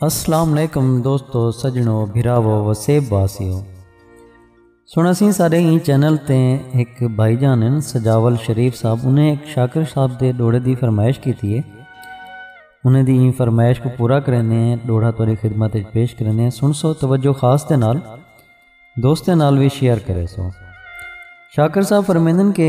اسلام علیکم دوستو سجنو بھراو وسیب باسیو سنا سی سارے ہی چینل تے ایک بھائی جان ہیں سجاول شریف صاحب انہیں ایک شاکر صاحب دے ڈوڑے دی فرمائش کی تھی ہے انہیں دی فرمائش کو پورا کرنے ہیں ڈوڑا توری خدمت پیش کرنے ہیں سن سو توجہ خاص تے نال دوست نال بھی شیئر کرے سو شاکر صاحب فرمیندن کہ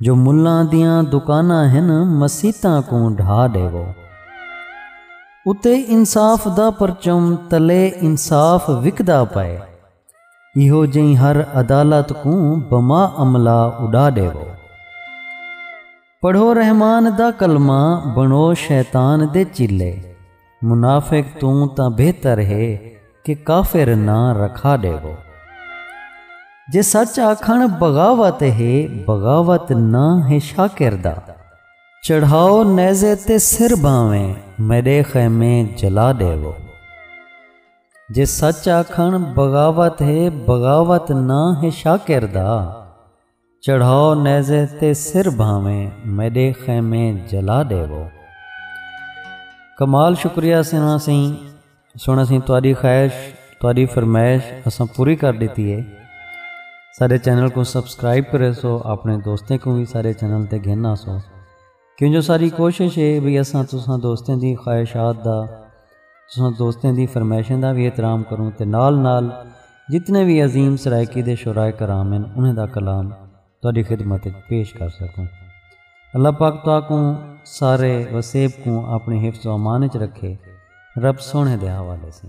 جو ملاں دیاں دکاناں ہن مسیتاں کوں ڈھا ڈیوو اتے انصاف دا پرچم تلے انصاف وکدا پئے ایہو جئیں ہر عدالت کوں بما عملہ اڈا ڈیوو پڑھو رحمان دا کلمہ بنو شیطان دے چیلے منافق توں تاں بہتر ہے کہ کافر نہ رکھا ڈیو۔ جے سچ آکھن بغاوت ہے بغاوت نہ ہے شاکر دا۔ چڑھاؤ نیزے تے سر بھانویں میڈے خیمے جلا ڈیو۔ جے سچ آکھن بغاوت ہے بغاوت نہ ہے شاکر دا۔ چڑھاؤ نیزے تے سر بھاویں میڈے خیمے جلا ڈیوو کمال شکریہ سنا سی سنا سی تاری خواہش تاری فرمائش اساں پوری کر دیتی ہے سارے چینل کو سبسکرائب کرے سو اپنے دوستیں کو بھی سارے چینل تے گھن آ سو کیوں جو ساری کوشش ہے بھئی اساں تساں دوستیں دی خواہشات دا تساں دوستیں دی فرمائشیں دا وی احترام کروں تے نال نال جتنے وی عظیم سرائیکی دے شعراء کرام ہن انہیں دا کلام تہاڈی خدمت وچ پیش کر سکوں اللہ پاک تہاکوں سارے وسیب کوں اپنے حفظ و امان وچ رکھے رب سونے دے حوالے سے